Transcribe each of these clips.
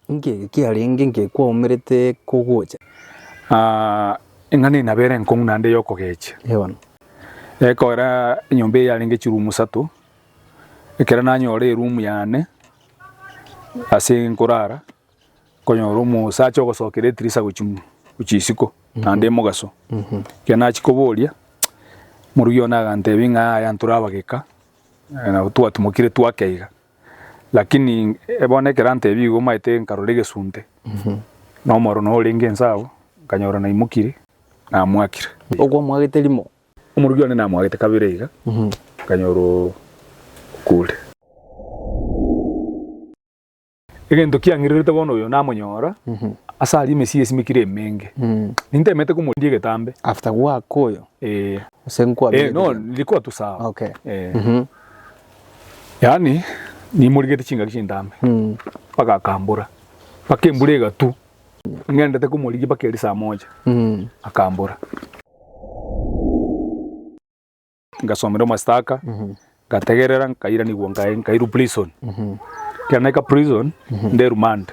Inki eke kiarenge inki kwaumerete kogocha? Eng'ana eye nabo ere enkong'u naende y'okogecha. Ewana. Ekogera enyomba eye yarenge chirumu isato, ekero nanyora erumu yane ase nkorara, nkonyora omosacha ogosokera etirisa gochia mo, gochia isiko naende emogaso. Ekero nachia koboria, morugi one agantebia ng'a yaya ntorabageka, nabo twatumokire twakeiga. Lakini bono ekero antebirie igo omanyete nkarora egesunte, na omoro noo orenge inse agwo, nkanyora naimokire, namoakire. Okwamwagete rimo. Omoruki one namwagete kabere iga, nkanyora okure. Egento kiang'irerete bono oyo namonyora ase aria emesii esimekire emenge. Nintemete komorindia egetambe. After gwakoywa? Ee. Gose nkwa. Ee no, riria kwatusa. Okay. Ee. Yaani, nimorigete chingaki chintambe mpaka akambora, mpaka embura egatu ng'endete komorigia mpaka eria saa moja akambora. Ngasomerwa omastaka ngategerera nkairanigwa nkae- nkairwa prison. Ekero naika prison nde remand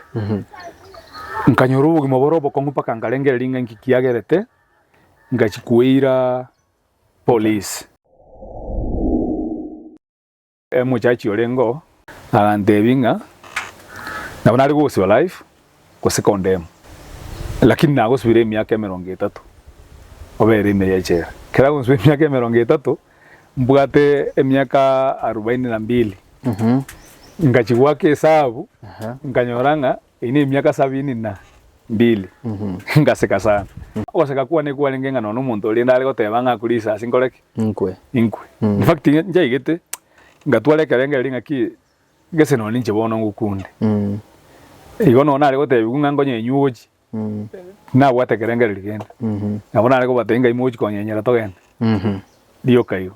nkanyora obogima bore obokong'u mpaka nkarengereria ng'a inki kiagerete ngachia koira. Police. Omochachi orengeo agantebia ng'a nabo nare gogosiba life gose condemn lakini nagosibire emiaka emerongo etato obere ime y'echela. Ekero agosiba emiaka emerongo etato mbwate emiaka arubaini na mbili. Ngachia goaka esabu nkanyora ng'a Eye nemiaka sabini na mbili. Ngaseka sana. Ogoseka kwane kwarenge ng'a nonya omonto oria ndare goteba ng'a akure risasi nkore ki? Inkwe. Inkwe. In fact, nchaigete, ngatwara ekerengererio ng'aki gese nonya ninche bono ngokunde. Igo nonya nare gotebigwa ng'a nkonye inywe ogochi, tinabwate ekerengererio kende. Nabo nare kobatebia ng'a imogochi konyenyera togende. Rioka igo.